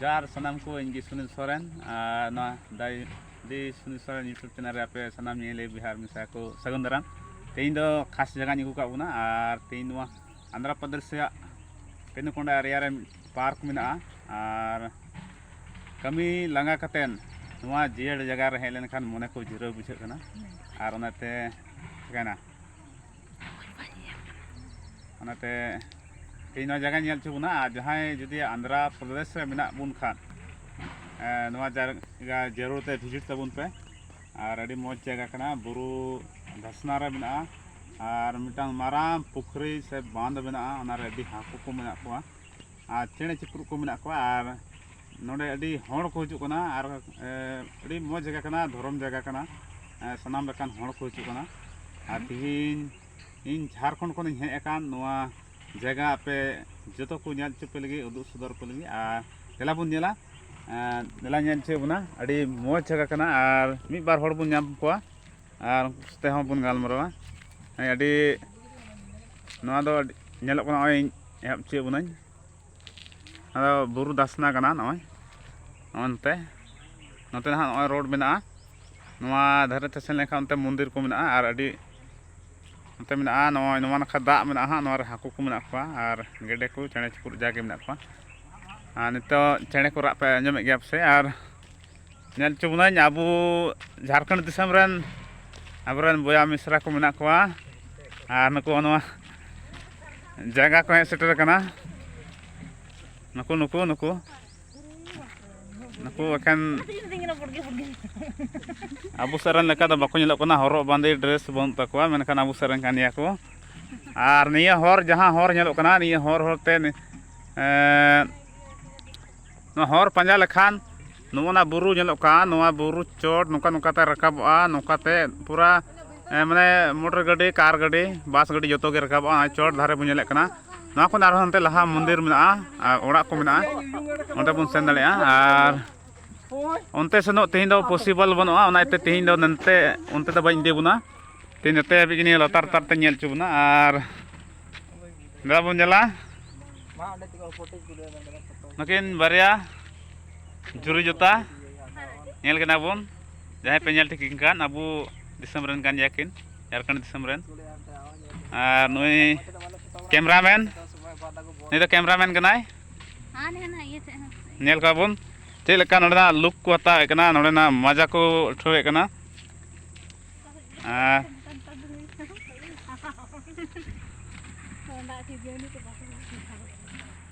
ᱡᱚᱦᱟᱨ ᱥᱟᱱᱟᱢ ᱠᱚ ᱤᱧ ᱜᱮ ᱥᱩᱱᱤᱞ ᱥᱚᱨᱮᱱ ᱟᱨ ᱱᱚᱣᱟ ᱫᱟᱭ ᱫᱤ ᱥᱩᱱᱤᱞ ᱥᱚᱨᱮᱱ ᱤᱭᱩᱴᱩᱵᱽ ᱪᱮᱱᱮᱞ ᱨᱮ ᱟᱯᱮ ᱥᱟᱱᱟᱢ ᱧᱮᱞᱮ ᱵᱤᱦᱟᱨ ᱢᱮᱥᱟ ᱠᱚ ᱥᱟᱹᱜᱩᱱ ᱫᱟᱨᱟᱢ ᱛᱮᱦᱮᱧ ᱫᱚ ᱠᱷᱟᱥ ᱡᱟᱭᱜᱟᱧ ᱟᱹᱜᱩ ᱠᱟᱜ ᱵᱚᱱᱟ ᱟᱨ ᱛᱮᱦᱮᱧ ᱱᱚᱣᱟ ᱟᱱᱫᱷᱨᱟ ᱯᱨᱚᱫᱮᱥ ᱨᱮᱭᱟᱜ ᱯᱮᱱᱩᱠᱚᱱᱰᱟ ᱮᱨᱤᱭᱟ ᱨᱮ ᱯᱟᱨᱠ ᱢᱮᱱᱟᱜᱼᱟ ᱟᱨ ᱠᱟᱹᱢᱤ ᱞᱟᱸᱜᱟ ᱠᱟᱛᱮᱱ ᱱᱚᱣᱟ ᱡᱤᱭᱟᱹᱲ ᱡᱟᱭᱜᱟ ᱨᱮ ᱦᱮᱡ ᱞᱮᱱᱠᱷᱟᱱ ᱢᱚᱱᱮ ᱠᱚ ᱡᱤᱨᱟᱹᱣ ᱵᱩᱡᱷᱟᱹᱜ ᱠᱟᱱᱟ ᱟᱨ ᱚᱱᱟᱛᱮ ᱪᱤᱠᱟᱹᱭᱮᱱᱟ ᱚᱱᱟᱛᱮ ᱛᱮᱦᱮᱧ ᱱᱚᱣᱟ ᱡᱟᱭᱜᱟ ᱧᱮᱞ ᱦᱚᱪᱚ ᱵᱚᱱᱟ ᱟᱨ ᱡᱟᱦᱟᱸᱭ ᱡᱩᱫᱤ ᱟᱱᱫᱷᱨᱟ ᱯᱨᱚᱫᱮᱥ ᱨᱮ ᱢᱮᱱᱟᱜ ᱵᱚᱱ ᱠᱷᱟᱱ ᱱᱚᱣᱟ ᱡᱟᱭᱜᱟ ᱡᱟᱹᱨᱩᱲ ᱛᱮ ᱵᱷᱤᱡᱤᱴ ᱛᱟᱵᱚᱱ ᱯᱮ ᱟᱨ ᱟᱹᱰᱤ ᱢᱚᱡᱽ ᱡᱟᱭᱜᱟ ᱠᱟᱱᱟ ᱵᱩᱨᱩ ᱫᱷᱟᱥᱱᱟ ᱨᱮ ᱢᱮᱱᱟᱜᱼᱟ ᱟᱨ ᱢᱤᱫᱴᱟᱝ ᱢᱟᱨᱟᱝ ᱯᱩᱠᱷᱨᱤ ᱥᱮ ᱵᱟᱸᱫᱷ ᱢᱮᱱᱟᱜᱼᱟ ᱚᱱᱟᱨᱮ ᱟᱹᱰᱤ ᱦᱟᱹᱠᱩ ᱠᱚ ᱢᱮᱱᱟᱜ ᱠᱚᱣᱟ ᱟᱨ ᱪᱮᱬᱮ ᱪᱤᱯᱨᱩᱫ ᱠᱚ ᱢᱮᱱᱟᱜ ᱠᱚᱣᱟ ᱟᱨ ᱱᱚᱰᱮ ᱟᱹᱰᱤ ᱦᱚᱲ ᱠᱚ ᱦᱤᱡᱩᱜ ᱠᱟᱱᱟ ᱟᱨ ᱟᱹᱰᱤ ᱢᱚᱡᱽ ᱡᱟᱭᱜᱟ ᱠᱟᱱᱟ ᱫᱷᱚᱨᱚᱢ ᱡᱟᱭᱜᱟ ᱠᱟᱱᱟ ᱥᱟᱱᱟᱢ ᱞᱮᱠᱟᱱ ᱦᱚᱲ ᱠᱚ ᱦᱤᱡᱩᱜ ᱠᱟᱱᱟ ᱟᱨ ᱛᱮᱦᱮᱧ ᱤᱧ ᱡᱷᱟᱲᱠᱷᱚᱸᱰ ᱠᱷᱚᱱᱤᱧ ᱦᱮᱡ ᱟᱠᱟᱱ ᱱᱚᱣᱟ ᱡᱟᱭᱜᱟ ᱟᱯᱮ ᱡᱚᱛᱚ ᱠᱚ ᱧᱮᱞ ᱦᱚᱪᱚ ᱯᱮ ᱞᱟᱹᱜᱤᱫ ᱩᱫᱩᱜ ᱥᱚᱫᱚᱨ ᱯᱮ ᱞᱟᱹᱜᱤᱫ ᱟᱨ ᱫᱮᱞᱟ ᱵᱚᱱ ᱧᱮᱞᱟ ᱫᱮᱞᱟ ᱧᱮᱞ ᱦᱚᱪᱚᱭᱮᱫ ᱵᱚᱱᱟ ᱟᱹᱰᱤ ᱢᱚᱡᱽ ᱡᱟᱭᱜᱟ ᱠᱟᱱᱟ ᱟᱨ ᱢᱤᱫ ᱵᱟᱨ ᱦᱚᱲ ᱵᱚᱱ ᱧᱟᱢ ᱠᱚᱣᱟ ᱟᱨ ᱩᱱᱠᱩ ᱥᱟᱛᱮ ᱦᱚᱸ ᱵᱚᱱ ᱜᱟᱞᱢᱟᱨᱟᱣᱟ ᱟᱹᱰᱤ ᱱᱚᱣᱟ ᱫᱚ ᱧᱮᱞᱚᱜ ᱠᱟᱱᱟ ᱱᱚᱜᱼᱚᱭ ᱮᱦᱚᱵ ᱦᱚᱪᱚᱭᱮᱫ ᱵᱚᱱᱟᱹᱧ ᱟᱫᱚ ᱵᱩᱨᱩ ᱫᱷᱟᱥᱱᱟ ᱠᱟᱱᱟ ᱱᱚᱜᱼᱚᱭ ᱱᱚᱜᱼᱚᱭ ᱱᱚᱛᱮ ᱱᱚᱛᱮ ᱱᱟᱦᱟᱜ ᱱᱚᱜᱼᱚᱭ ᱨᱳᱰ ᱢᱮᱱᱟᱜᱼᱟ ᱱᱚᱣᱟ ᱫᱷᱟᱨᱮ ᱛᱮ ᱥᱮᱱ ᱞᱮᱱᱠᱷᱟᱱ ᱚᱱᱛᱮ ᱢᱚᱱᱫᱤᱨ ᱠᱚ ᱢᱮᱱᱟᱜᱼᱟ ᱟᱨ ᱟᱹᱰᱤ ᱱᱚᱛᱮ ᱢᱮᱱᱟᱜᱼᱟ ᱱᱚᱜᱼᱚᱭ ᱱᱚᱣᱟ ᱱᱟᱠᱷᱟ ᱫᱟᱜ ᱢᱮᱱᱟᱜᱼᱟ ᱦᱟᱸᱜ ᱱᱚᱣᱟ ᱨᱮ ᱦᱟᱹᱠᱩ ᱠᱚ ᱢᱮᱱᱟᱜ ᱠᱚᱣᱟ ᱟᱨ ᱜᱮᱰᱮ ᱠᱚ ᱪᱮᱬᱮ ᱪᱤᱯᱨᱩᱫ ᱡᱟᱜᱮ ᱢᱮᱱᱟᱜ ᱠᱚᱣᱟ ᱟᱨ ᱱᱤᱛᱚᱜ ᱪᱮᱬᱮ ᱠᱚ ᱨᱟᱜ ᱯᱮ ᱟᱸᱡᱚᱢᱮᱫ ᱜᱮᱭᱟ ᱯᱟᱥᱮᱡ ᱟᱨ ᱧᱮᱞ ᱦᱚᱪᱚ ᱵᱚᱱᱟᱹᱧ ᱟᱵᱚ ᱡᱷᱟᱲᱠᱷᱚᱸᱰ ᱫᱤᱥᱚᱢ ᱨᱮᱱ ᱟᱵᱚᱨᱮᱱ ᱵᱚᱭᱦᱟ ᱢᱤᱥᱨᱟ ᱠᱚ ᱢᱮᱱᱟᱜ ᱠᱚᱣᱟ ᱟᱨ ᱱᱩᱠᱩ ᱱᱚᱣᱟ ᱡᱟᱭᱜᱟ ᱠᱚ ᱦᱮᱡ ᱥᱮᱴᱮᱨ ᱠᱟᱱᱟ ᱱᱩᱠᱩ ᱱᱩᱠᱩ ᱱᱩᱠᱩ ᱱᱩᱠᱩ ᱮᱠᱷᱮᱱ ᱟᱵᱚ ᱥᱮᱫ ᱨᱮᱱ ᱞᱮᱠᱟ ᱫᱚ ᱵᱟᱠᱚ ᱧᱮᱞᱚᱜ ᱠᱟᱱᱟ ᱦᱚᱨᱚᱜ ᱵᱟᱸᱫᱮ ᱰᱨᱮᱥ ᱵᱟᱹᱱᱩᱜ ᱛᱟᱠᱚᱣᱟ ᱢᱮᱱᱠᱷᱟᱱ ᱟᱵᱚ ᱥᱮᱫ ᱨᱮᱱ ᱠᱟᱱ ᱜᱮᱭᱟ ᱠᱚ ᱟᱨ ᱱᱤᱭᱟᱹ ᱦᱚᱨ ᱡᱟᱦᱟᱸ ᱦᱚᱨ ᱧᱮᱞᱚᱜ ᱠᱟᱱᱟ ᱱᱤᱭᱟᱹ ᱦᱚᱨ ᱦᱚᱨᱛᱮ ᱱᱚᱣᱟ ᱦᱚᱨ ᱯᱟᱸᱡᱟ ᱞᱮᱠᱷᱟᱱ ᱱᱚᱜᱼᱚ ᱱᱟ ᱵᱩᱨᱩ ᱧᱮᱞᱚᱜ ᱠᱟᱱ ᱱᱚᱣᱟ ᱵᱩᱨᱩ ᱪᱚᱴ ᱱᱚᱝᱠᱟ ᱱᱚᱝᱠᱟ ᱛᱮ ᱨᱟᱠᱟᱵᱚᱜᱼᱟ ᱱᱚᱝᱠᱟ ᱛᱮ ᱯᱩᱨᱟᱹ ᱢᱟᱱᱮ ᱢᱚᱴᱚᱨ ᱜᱟᱹᱰᱤ ᱠᱟᱨ ᱜᱟᱹᱰᱤ ᱵᱟᱥ ᱜᱟᱹᱰᱤ ᱡᱚᱛᱚ ᱜᱮ ᱨᱟᱠᱟᱵᱚᱜᱼᱟ ᱱᱚᱜᱼᱚᱭ ᱪᱚᱴ ᱫᱷᱟᱨᱮ ᱵᱚᱱ ᱧᱮᱞᱮᱫ ᱠᱟᱱᱟ ᱱᱚᱣᱟ ᱠᱷᱚᱱ ᱟᱨᱦᱚᱸ ᱦᱟᱱᱛᱮ ᱞᱟᱦᱟ ᱢᱚᱱᱫᱤᱨ ᱢᱮᱱᱟᱜᱼᱟ ᱟᱨ ᱚᱲᱟᱜ ᱠᱚ ᱢᱮᱱᱟᱜᱼᱟ ᱚᱸᱰᱮ ᱵᱚᱱ ᱥᱮᱱ ᱫᱟᱲᱮᱭᱟᱜᱼᱟ ᱟᱨ ᱚᱱᱛᱮ ᱥᱮᱱᱚᱜ ᱛᱮᱦᱮᱧ ᱫᱚ ᱯᱚᱥᱤᱵᱚᱞ ᱵᱟᱹᱱᱩᱜᱼᱟ ᱚᱱᱟ ᱤᱭᱟᱹᱛᱮ ᱛᱮᱦᱮᱧ ᱫᱚ ᱱᱚᱱᱛᱮ ᱚᱱᱛᱮ ᱫᱚ ᱵᱟᱹᱧ ᱤᱫᱤ ᱵᱚᱱᱟ ᱛᱮᱦᱮᱧ ᱱᱚᱛᱮ ᱦᱟᱹᱵᱤᱡ ᱜᱮ ᱱᱤᱭᱟᱹ ᱞᱟᱛᱟᱨ ᱞᱟᱛᱟᱨ ᱛᱮᱧ ᱧᱮᱞ ᱦᱚᱪᱚ ᱵᱚᱱᱟ ᱟᱨ ᱫᱟᱫᱟ ᱵᱚᱱ ᱧᱮᱞᱟ ᱱᱩᱠᱤᱱ ᱵᱟᱨᱭᱟ ᱡᱩᱨᱤ ᱡᱚᱛᱟ ᱧᱮᱞ ᱠᱟᱱᱟ ᱵᱚᱱ ᱡᱟᱦᱟᱸᱭ ᱯᱮ ᱧᱮᱞ ᱴᱷᱤᱠ ᱠᱟᱱ ᱟᱵᱚ ᱫᱤᱥᱚᱢ ᱨᱮᱱ ᱠᱟᱱ ᱜᱮᱭᱟ ᱠᱤᱱ ᱡᱷᱟᱲᱠᱷᱚᱸᱰ ᱫᱤᱥᱚᱢ ᱨᱮᱱ ᱟᱨ ᱱᱩᱭ ᱠᱮᱢᱨᱟᱢᱮᱱ ᱱᱩᱭ ᱫᱚ ᱠᱮᱢᱨᱟᱢᱮᱱ ᱠᱟᱱᱟᱭ ᱧᱮᱞ ᱠᱚᱣᱟ ᱵᱚᱱ ᱪᱮᱫ ᱞᱮᱠᱟ ᱱᱚᱰᱮᱱᱟᱜ ᱞᱩᱠ ᱠᱚ ᱦᱟᱛᱟᱣᱮᱫ ᱠᱟᱱᱟ ᱱᱚᱰᱮᱱᱟᱜ ᱢᱟᱡᱟ ᱠᱚ ᱩᱴᱷᱟᱹᱣᱮᱫ ᱠᱟᱱᱟ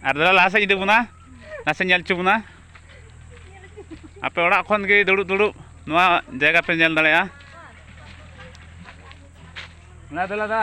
ᱟᱨ ᱫᱟᱫᱟ ᱞᱟᱦᱟ ᱥᱮᱫ ᱤᱫᱤ ᱵᱚᱱᱟ ᱱᱟᱥᱮ ᱧᱮᱞ ᱦᱚᱪᱚ ᱵᱚᱱᱟ ᱟᱯᱮ ᱚᱲᱟᱜ ᱠᱷᱚᱱ ᱜᱮ ᱫᱩᱲᱩᱵ ᱫᱩᱲᱩᱵ ᱱᱚᱣᱟ ᱡᱟᱭᱜᱟ ᱯᱮ ᱧᱮᱞ ᱫᱟᱲᱮᱭᱟᱜᱼᱟ ᱞᱟᱫᱟ ᱞᱟᱫᱟ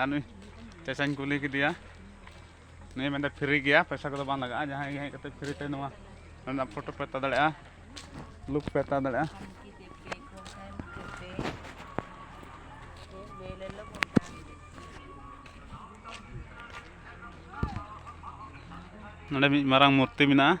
ᱟᱨ ᱱᱩᱭ ᱪᱟᱪᱟᱧ ᱠᱩᱞᱤ ᱠᱮᱫᱮᱭᱟ ᱱᱩᱭ ᱢᱮᱱᱫᱟ ᱯᱷᱨᱤ ᱜᱮᱭᱟ ᱯᱚᱭᱥᱟ ᱠᱚᱫᱚ ᱵᱟᱝ ᱞᱟᱜᱟᱜᱼᱟ ᱡᱟᱦᱟᱸᱭ ᱜᱮ ᱦᱮᱡ ᱠᱟᱛᱮ ᱯᱷᱨᱤ ᱛᱮ ᱱᱚᱣᱟ ᱨᱮᱱᱟᱜ ᱯᱷᱳᱴᱳ ᱯᱮ ᱦᱟᱛᱟᱣ ᱫᱟᱲᱮᱭᱟᱜᱼᱟ ᱞᱩᱠ ᱯᱮ ᱦᱟᱛᱟᱣ ᱫᱟᱲᱮᱭᱟᱜᱼᱟ ᱱᱚᱰᱮ ᱢᱤᱫ ᱢᱟᱨᱟᱝ ᱢᱩᱨᱛᱤ ᱢᱮᱱᱟᱜᱼᱟ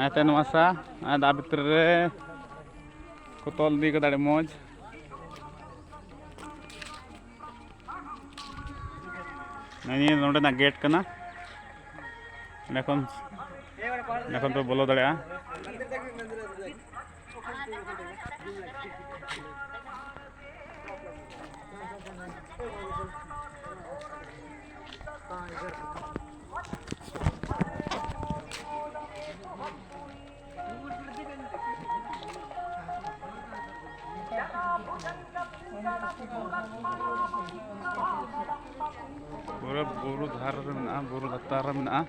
ᱟᱭᱛᱮ ᱱᱚᱣᱟ ᱥᱟ ᱟᱨ ᱫᱟᱜ ᱵᱷᱤᱛᱨᱤ ᱨᱮ ᱠᱚ ᱛᱚᱞ ᱤᱫᱤ ᱠᱟᱫᱟ ᱟᱹᱰᱤ ᱢᱚᱡᱽ ᱱᱤᱭᱟᱹ ᱱᱚᱰᱮᱱᱟᱜ ᱜᱮᱴ ᱠᱟᱱᱟ ᱚᱸᱰᱮ ᱠᱷᱚᱱ ᱚᱸᱰᱮ ᱠᱷᱚᱱ ᱯᱮ ᱵᱚᱞᱚ ᱫᱟᱲᱮᱭᱟᱜᱼᱟ ᱯᱩᱨᱟᱹ ᱵᱩᱨᱩ ᱫᱷᱟᱨᱮ ᱨᱮ ᱢᱮᱱᱟᱜᱼᱟ ᱵᱩᱨᱩ ᱞᱟᱛᱟᱨ ᱨᱮ ᱢᱮᱱᱟᱜᱼᱟ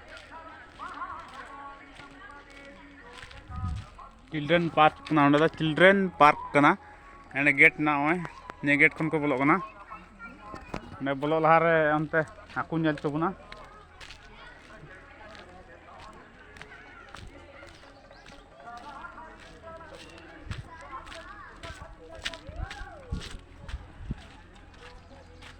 ᱪᱤᱞᱰᱨᱮᱱ ᱯᱟᱨᱠ ᱠᱟᱱᱟ ᱚᱸᱰᱮ ᱫᱚ ᱪᱤᱞᱰᱨᱮᱱ ᱯᱟᱨᱠ ᱠᱟᱱᱟ ᱚᱸᱰᱮ ᱜᱮᱴ ᱢᱮᱱᱟᱜᱼᱟ ᱱᱚᱜᱼᱚᱭ ᱱᱤᱭᱟᱹ ᱜᱮᱴ ᱠᱷᱚᱱ ᱠᱚ ᱵᱚᱞᱚᱜ ᱠᱟᱱᱟ ᱚᱸᱰᱮ ᱵᱚᱞᱚᱜ ᱞᱟᱦᱟᱨᱮ ᱚᱱᱛᱮ ᱦᱟᱹᱠᱩ ᱧᱮᱞ ᱦᱚᱪᱚ ᱵᱚᱱᱟ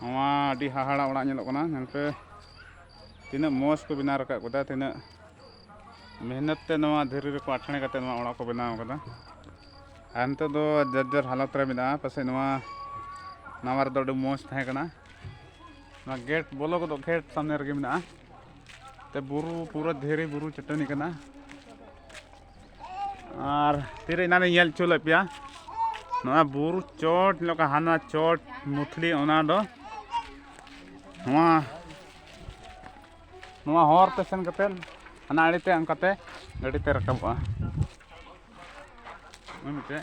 ᱱᱚᱣᱟ ᱟᱹᱰᱤ ᱦᱟᱦᱟᱲᱟ ᱚᱲᱟᱜ ᱧᱮᱞᱚᱜ ᱠᱟᱱᱟ ᱧᱮᱞ ᱯᱮ ᱛᱤᱱᱟᱹᱜ ᱢᱚᱡᱽ ᱠᱚ ᱵᱮᱱᱟᱣ ᱨᱟᱠᱟᱵ ᱠᱟᱫᱟ ᱛᱤᱱᱟᱹᱜ ᱢᱮᱦᱱᱚᱛ ᱛᱮ ᱱᱚᱣᱟ ᱫᱷᱤᱨᱤ ᱨᱮᱠᱚ ᱟᱴᱷᱟᱬᱮ ᱠᱟᱛᱮ ᱱᱚᱣᱟ ᱚᱲᱟᱜ ᱠᱚ ᱵᱮᱱᱟᱣ ᱠᱟᱫᱟ ᱟᱨ ᱱᱤᱛᱚᱜ ᱫᱚ ᱡᱟᱨᱡᱟᱨ ᱦᱟᱞᱚᱛ ᱨᱮ ᱢᱮᱱᱟᱜᱼᱟ ᱯᱟᱥᱮᱡ ᱱᱚᱣᱟ ᱱᱟᱣᱟ ᱨᱮᱫᱚ ᱟᱹᱰᱤ ᱢᱚᱡᱽ ᱛᱟᱦᱮᱸ ᱠᱟᱱᱟ ᱱᱚᱣᱟ ᱜᱮᱴ ᱵᱚᱞᱚ ᱜᱚᱫᱚᱜ ᱜᱮᱴ ᱥᱟᱢᱱᱮ ᱨᱮᱜᱮ ᱢᱮᱱᱟᱜᱼᱟ ᱛᱮ ᱵᱩᱨᱩ ᱯᱩᱨᱟᱹ ᱫᱷᱤᱨᱤ ᱵᱩᱨᱩ ᱪᱟᱹᱴᱟᱹᱱᱤ ᱠᱟᱱᱟ ᱟᱨ ᱛᱤᱨᱮ ᱮᱱᱟᱱᱤᱧ ᱧᱮᱞ ᱦᱚᱪᱚ ᱞᱮᱫ ᱯᱮᱭᱟ ᱱᱚᱣᱟ ᱵᱩᱨᱩ ᱪᱚᱴ ᱞᱮᱠᱟ ᱦᱟᱱᱟ ᱪᱚᱴ ᱢᱩᱛᱷᱞᱤ ᱚᱱᱟ ᱫᱚ ᱱᱚᱣᱟ ᱱᱚᱣᱟ ᱦᱚᱨ ᱛᱮ ᱥᱮᱱ ᱠᱟᱛᱮᱫ ᱦᱟᱱᱟ ᱟᱲᱮᱛᱮ ᱚᱱᱠᱟᱛᱮ ᱜᱟᱹᱰᱤ ᱛᱮ ᱨᱟᱠᱟᱵᱚᱜᱼᱟ ᱢᱤᱫᱴᱮᱡ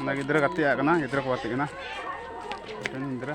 ᱚᱱᱟ ᱜᱤᱫᱽᱨᱟᱹ ᱜᱟᱛᱮ ᱟᱜ ᱠᱟᱱᱟ ᱜᱤᱫᱽᱨᱟᱹ ᱠᱚ ᱜᱟᱛᱮᱜ ᱠᱟᱱᱟ ᱢᱤᱫᱴᱮᱱ ᱜᱤᱫᱽᱨᱟᱹ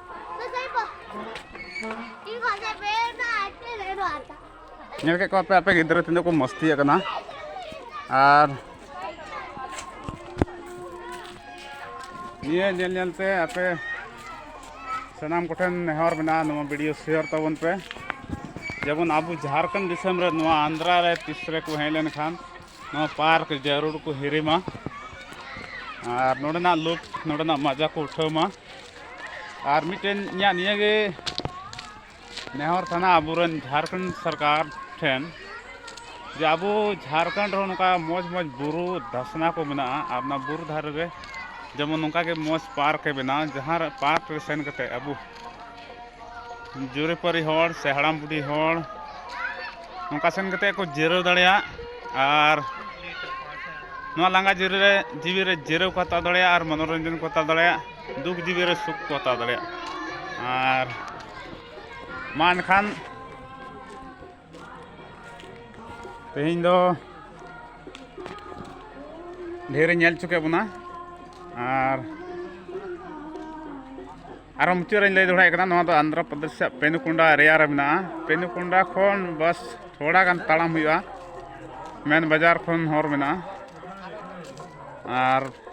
ᱧᱮᱞ ᱠᱮᱫ ᱠᱚᱣᱟ ᱯᱮ ᱟᱯᱮ ᱜᱤᱫᱽᱨᱟᱹ ᱛᱤᱱᱟᱹᱜ ᱠᱚ ᱢᱚᱥᱛᱤᱭᱮᱫ ᱠᱟᱱᱟ ᱟᱨ ᱱᱤᱭᱟᱹ ᱧᱮᱞ ᱧᱮᱞ ᱛᱮ ᱟᱯᱮ ᱥᱟᱱᱟᱢ ᱠᱚᱴᱷᱮᱱ ᱱᱮᱦᱚᱨ ᱢᱮᱱᱟᱜᱼᱟ ᱱᱚᱣᱟ ᱵᱷᱤᱰᱤᱭᱳ ᱥᱮᱭᱟᱨ ᱛᱟᱵᱚᱱ ᱯᱮ ᱡᱮᱢᱚᱱ ᱟᱵᱚ ᱡᱷᱟᱲᱠᱷᱚᱸᱰ ᱫᱤᱥᱚᱢ ᱨᱮ ᱱᱚᱣᱟ ᱟᱱᱫᱷᱨᱟ ᱨᱮ ᱛᱤᱥ ᱨᱮ ᱠᱚ ᱦᱮᱡ ᱞᱮᱱᱠᱷᱟᱱ ᱱᱚᱣᱟ ᱯᱟᱨᱠ ᱡᱟᱹᱨᱩᱲ ᱠᱚ ᱦᱤᱨᱤᱢᱟ ᱟᱨ ᱱᱚᱰᱮᱱᱟᱜ ᱞᱩᱠ ᱱᱚᱰᱮᱱᱟᱜ ᱢᱟᱡᱟ ᱠᱚ ᱩᱴᱷᱟᱹᱣ ᱢᱟ ᱟᱨ ᱢᱤᱫᱴᱮᱱ ᱤᱧᱟᱹᱜ ᱱᱤᱭᱟᱹᱜᱮ ᱱᱮᱦᱚᱨ ᱛᱟᱦᱮᱱᱟ ᱟᱵᱚᱨᱮᱱ ᱡᱷᱟᱲᱠᱷᱚᱸᱰ ᱥᱚᱨᱠᱟᱨ ᱴᱷᱮᱱ ᱡᱮ ᱟᱵᱚ ᱡᱷᱟᱲᱠᱷᱚᱸᱰ ᱨᱮᱦᱚᱸ ᱱᱚᱝᱠᱟ ᱢᱚᱡᱽ ᱢᱚᱡᱽ ᱵᱩᱨᱩ ᱫᱷᱟᱥᱱᱟ ᱠᱚ ᱢᱮᱱᱟᱜᱼᱟ ᱟᱨ ᱚᱱᱟ ᱵᱩᱨᱩ ᱫᱷᱟᱨᱮ ᱨᱮ ᱡᱮᱢᱚᱱ ᱱᱚᱝᱠᱟ ᱜᱮ ᱢᱚᱡᱽ ᱯᱟᱨᱠ ᱮ ᱵᱮᱱᱟᱣ ᱡᱟᱦᱟᱸ ᱨᱮ ᱯᱟᱨᱠ ᱨᱮ ᱥᱮᱱ ᱠᱟᱛᱮᱫ ᱟᱵᱚ ᱡᱩᱨᱤᱯᱟᱹᱨᱤ ᱦᱚᱲ ᱥᱮ ᱦᱟᱲᱟᱢ ᱵᱩᱰᱷᱤ ᱦᱚᱲ ᱱᱚᱝᱠᱟ ᱥᱮᱱ ᱠᱟᱛᱮᱫ ᱠᱚ ᱡᱤᱨᱟᱹᱣ ᱫᱟᱲᱮᱭᱟᱜ ᱟᱨ ᱱᱚᱣᱟ ᱞᱟᱸᱜᱟ ᱡᱤᱨᱟᱹᱣ ᱨᱮ ᱡᱤᱣᱤ ᱨᱮ ᱡᱤᱨᱟᱹᱣ ᱠᱚ ᱦᱟᱛᱟᱣ ᱫᱟᱲᱮᱭᱟᱜᱼᱟ ᱟᱨ ᱢᱚᱱᱚᱨᱚᱧᱡᱚᱱ ᱠᱚ ᱦᱟᱛᱟᱣ ᱫᱟᱲᱮᱭᱟᱜᱼᱟ ᱫᱩᱠ ᱡᱤᱵᱤ ᱨᱮ ᱥᱩᱠ ᱠᱚ ᱦᱟᱛᱟᱣ ᱫᱟᱲᱮᱭᱟᱜ ᱟᱨ ᱢᱟ ᱮᱱᱠᱷᱟᱱ ᱛᱮᱦᱮᱧ ᱫᱚ ᱰᱷᱮᱨ ᱧᱮᱞ ᱦᱚᱪᱚ ᱠᱮᱫ ᱵᱚᱱᱟ ᱟᱨ ᱟᱨᱚ ᱢᱩᱪᱟᱹᱫ ᱨᱮᱧ ᱞᱟᱹᱭ ᱫᱚᱦᱲᱟᱭᱮᱫ ᱠᱟᱱᱟ ᱱᱚᱣᱟ ᱫᱚ ᱟᱱᱫᱷᱨᱚ ᱯᱨᱚᱫᱮᱥ ᱨᱮᱭᱟᱜ ᱯᱮᱱᱩᱠᱩᱱᱰᱟ ᱮᱨᱤᱭᱟ ᱨᱮ ᱢᱮᱱᱟᱜᱼᱟ ᱯᱮᱱᱩᱠᱩᱱᱰᱟ ᱠᱷᱚᱱ ᱵᱟᱥ ᱛᱷᱚᱲᱟ ᱜᱟᱱ ᱛᱟᱲᱟᱢ ᱦᱩᱭᱩᱜᱼᱟ ᱢᱮᱱ ᱵᱟᱡᱟᱨ ᱠᱷᱚᱱ ᱦᱚᱨ ᱢᱮᱱᱟᱜᱼᱟ ᱟᱨ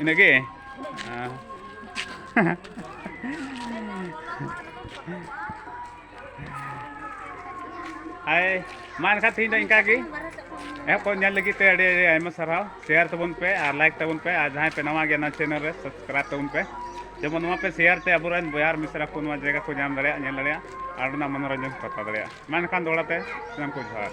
ᱤᱱᱟᱹᱜᱮ ᱦᱟᱭ ᱢᱟ ᱮᱱᱠᱷᱟᱱ ᱛᱮᱦᱮᱧ ᱫᱚ ᱤᱱᱠᱟ ᱜᱮ ᱮᱦᱚᱵ ᱠᱷᱚᱱ ᱧᱮᱞ ᱞᱟᱹᱜᱤᱫ ᱛᱮ ᱟᱹᱰᱤ ᱟᱹᱰᱤ ᱟᱭᱢᱟ ᱥᱟᱨᱦᱟᱣ ᱥᱮᱭᱟᱨ ᱛᱟᱵᱚᱱ ᱯᱮ ᱟᱨ ᱞᱟᱭᱤᱠ ᱛᱟᱵᱚᱱ ᱯᱮ ᱟᱨ ᱡᱟᱦᱟᱸᱭ ᱯᱮ ᱱᱟᱣᱟ ᱜᱮᱭᱟ ᱱᱚᱣᱟ ᱪᱮᱱᱮᱞ ᱨᱮ ᱥᱟᱵᱥᱠᱨᱟᱭᱤᱵ ᱛᱟᱵᱚᱱ ᱯᱮ ᱡᱮᱢᱚᱱ ᱱᱚᱣᱟ ᱯᱮ ᱥᱮᱭᱟᱨ ᱛᱮ ᱟᱵᱚᱨᱮᱱ ᱵᱚᱭᱦᱟᱨ ᱢᱤᱥᱨᱟ ᱠᱚ ᱱᱚᱣᱟ ᱡᱟᱭᱜᱟ ᱠᱚ ᱧᱟᱢ ᱫᱟᱲᱮᱭᱟᱜ ᱧᱮᱞ ᱫᱟᱲᱮᱭᱟᱜ ᱟᱨ ᱚᱱᱟ ᱢᱚᱱᱳᱨᱚᱧᱡᱚᱱ ᱠᱚ ᱦᱟᱛᱟᱣ ᱫᱟᱲᱮᱭᱟᱜ ᱢᱟ ᱮᱱᱠᱷᱟᱱ ᱫᱚᱦᱲᱟ ᱛᱮ ᱥᱟᱱᱟᱢ ᱠᱚ ᱡᱚᱦᱟᱨ